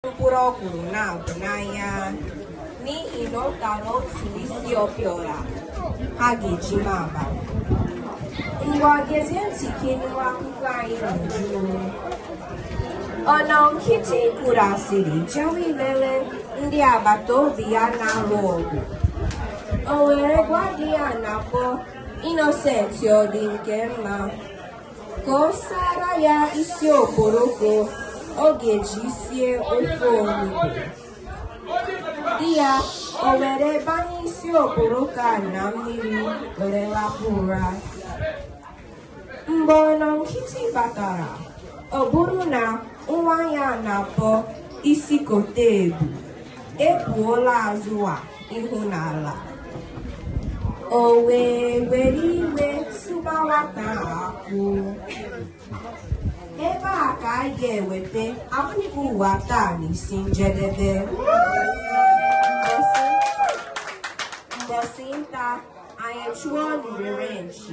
mkpụrụ ọkwụrụ na-abụ n'anya n'ihi na ọ tara otu isi okporoko ha ga-eji ma aba ngwa gezie ntị ka ị nụ akụkọ anyị n'uju ọnọ nkịtị kwuru asịrị jewe ilele ndị agbata obi ya na-alụ ọgụ o were gwa di ya a na-akpọ Innocent ọ dị nke mma ka ọ sara ya isi okporoko ọ ga-eji sie ofe onugbu di ya o were banye isi okporoko a na mmiri were lakpuo ụra mgbe ọnọ nkịtị batara ọ bụrụ na nwa ya a na-akpọ isi kote ebu ekpuola azụ a ihu n'ala o wee were iwe sụba nwata ka akwụ ebe a ka a ga-eweta akụkọ ụwa taa n'isi njedebe mbọsị nta anyị chụọ n'owere nchi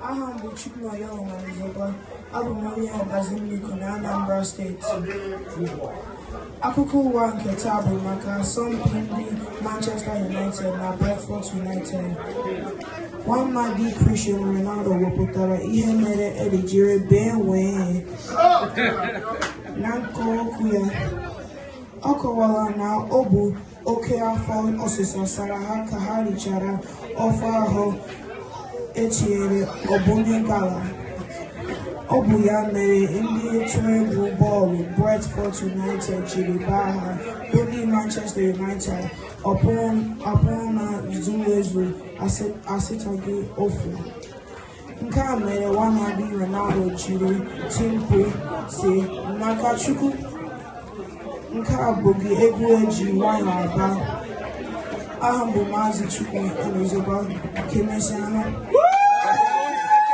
aha m bụ Chukwunayo Onuzoba abụ m onye ọbazi mmiko na Anambra steeti akụkọ ụwa nke taa bụ maka asọmpi ndị Manchester United na Brentford United nwamadị Cristiano Ronaldo wepụtara ihe mere ede jiri bee nwii na nke okwu ya ọ kọwara na ọ bụ oke afọ ọsịsa sara ha ka ha richara ofe ahụ e tinyere ọbụnye gala ọ bụ ya mere ndị otu egwu bọọlụ Brentford United jiri gbaa ha bụ ndị Manchester United ọkpụ anọ zuru ezu asataghị ofu nke a mere nwamadị Ronaldo jiri tie mkpu sị maka Chukwu nke a bụghị egwu e ji nwayọ agba aha m bụ Maazị Chukwu Onuzoba ka emesịanụ